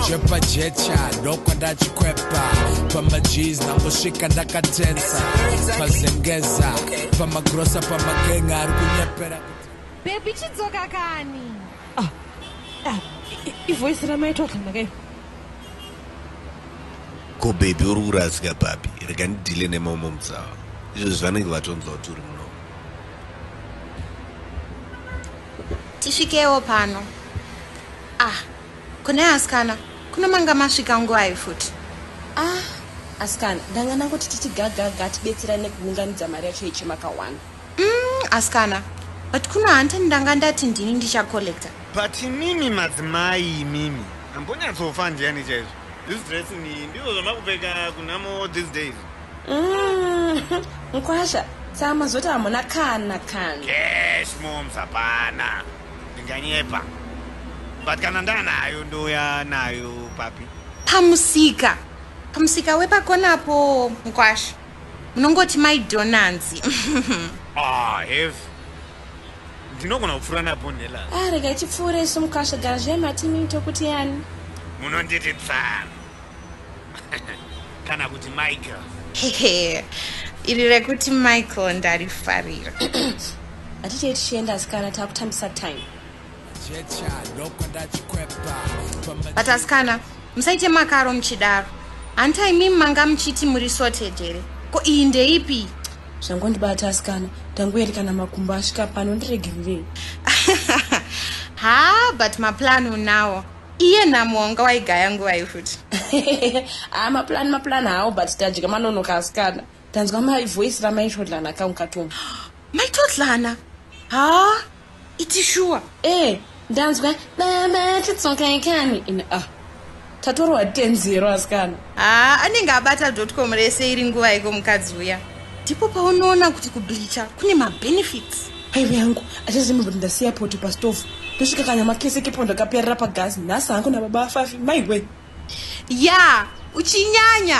jepa jecha ndokwa ndachikwepa pamajees ndangosvika ndakatensa pazengeza pamagrosa pamagenga ari kunyepera bebi chidzoka kani ah, ah, ivoisi ramaitwa kanakayo ko bebi uri kurasika papi rega ndidhile nemamwe mutsawa izvo zvanenge vatonzwa kuti uri muno tisvikewo pano ah Kune askana kuno manga masvika nguvai futi? Ah, askana ndanga ndangoti tichigagaga tibetserane kuunganidza mari yacho yechemakawana. Mm, askana but kuno hante ndanga ndati ndini ndichacollecta. But imimi madzimai imimi ambonyatsofa ndiani chaizvo? This dress ni ndizvo zvamakupfeka kunhamo these days? Mm, mkwasha saa mazoti hamuna kana kana. Cash moms hapana. Ndinganyepa. But kana ndanayo ndouya nayo papi? Pamusika. Pamusika wepakona apo mkwasha. Munongoti mai Donanzi. ah, heavy. Ndinogona kupfuura napo Nella. Ah, rega ichipfuure isu mkwasha gara zviye mati mito kuti yani. Munonditi tsana. kana kuti michael hehe iri rekuti michael ndarifarira hatitei tichienda asikana takutambisa time but asikana musaite makaro muchidaro hanti imimi manga muchiti muri sorted here ko iyi ndeipi zvangondibata asikana tangueri kana makumbo asvika pano ndiregererei ha but maplan unawo iye nhamo wanga waigaya nguvai futi haa maplan maplan hawo but tadya manonoka asikana tanzwa mai voice ramai todlana ka ukatonga mai todlana haa iti shuwa ee eh, ndanzwa baba titsokai kani in a ah, tatorwa tenzero asikana haa ah, anenge abata dotcom rese iri nguva iko mukadzi uya ndipo paunoona kuti kublicha kune mabenefits aive yangu achazima kuti ndasiya poto pastofu ndosvika kanyama kese kepo ndakaperera pagasi nhasi hangu nababa afafi maiwe ya uchinyanya